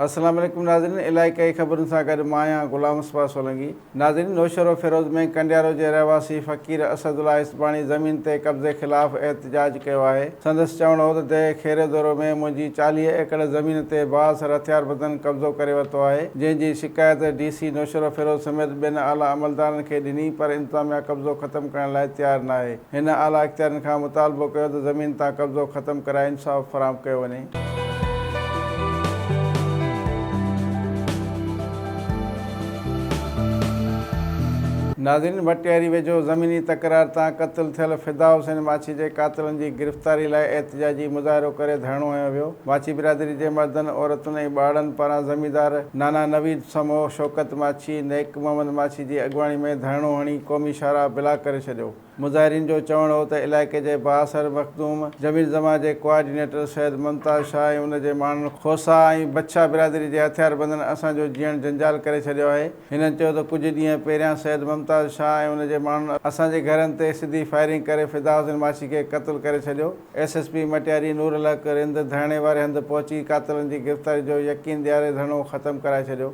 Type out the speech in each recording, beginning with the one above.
السلام عليڪم ناظرين علائقائي خبرن سان گڏ مان آهيان غلام مصباح سولنگي ناظرين نوشهروفيروز ۾ ڪنڊيارو جي رهواسي فقير اسد الله اسباڻي زمين تي قبضي خلاف احتجاج ڪيو آهي سندس چوڻ هو ته دهه خيري دورو ۾ منهنجي چاليهه ايڪڙ زمين تي بااثر هٿياربندن قبضو ڪري ورتو آهي جنهن جي شڪايت ڊي سي نوشهروفيروز سميت ٻين اعليٰ عملدارن کي ڏني پر انتظاميا قبضو ختم ڪرڻ لاء تيار ناهي هن اعليٰ اختيارين کان مطالبو ڪيو ته زمين تان قبضو ختم ڪرائي انصاف فراهم ڪيو وڃي. ناظرين ڀٽياري ويجهو زميني تڪرار تان قتل ٿيل فدا حسين ماڇي جي قاتلن جي گرفتاري لاء احتجاجي مظاهرو ڪري ڌرڻو هنيو ويو ماڇي برادري جي مردن عورتن ۽ ٻارڙن پاران زميندار نانا نويد سمو شوڪت ماڇي نيڪ محمد ماڇي جي اڳواڻي ۾ ڌرڻو هڻي قومي شاهراهه بلاڪ ڪري ڇڏيو. مظاهرين جو چوڻ هو ته علائقي جي بااثر مخدوم جميل زمان جي ڪوآرڊينيٽر سيد ممتاز شاهه ۽ ان جي ماڻهن کوسا ۽ بڇا برادري جي هٿياربندن اسان جو جيئڻ جنجال ڪري ڇڏيو آهي. هنن چيو ته ڪجهه ڏينهن پهريان سيد ممتاز شاهه ۽ ان جي ماڻهن اسان جي گهرن تي سڌي فائرنگ ڪري فداحسين ماڇي کي قتل ڪري ڇڏيو. S S P Matiari Noor Ul Haq Rind ڌرڻي واري هنڌ پهچي قاتلن جي گرفتاري جو يقين ڏياري ڌرڻو ختم ڪرائي ڇڏيو.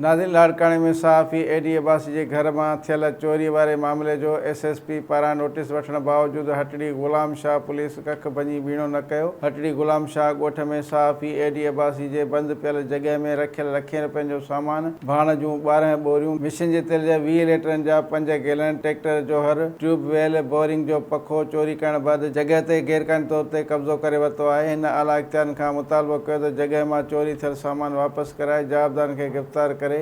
ناظرين لاڙڪاڻي ۾ صحافي اي ڊي عباسي جي گهر مان ٿيل چوري واري معاملي جو ايس ايس پي پاران نوٽيس وٺڻ باوجود هٽڙي غلام شاهه پوليس ڪک ڀڃي ٻيڻو نه ڪيو. هٽڙي غلام شاهه ڳوٺ ۾ صحافي اي ڊي عباسي جي بند پيل جڳهه ۾ رکيل لکين رپين جو سامان، ڀاڻ جون ٻارهن ٻوريون، مشين جي تيل جا ويهه ليٽرن جا پنج گيلن، ٽريڪٽر جو هر، ٽيوب ويل، بورنگ جو پکو چوري ڪرڻ بعد جڳهه تي غيرقانوني طور تي قبضو ڪري ورتو آهي، هن اعليٰ اختيارين کان مطالبو ڪيو ته جڳهه مان چوري ٿيل سامان واپس ڪرائي جوابدارن کي گرفتار ڪري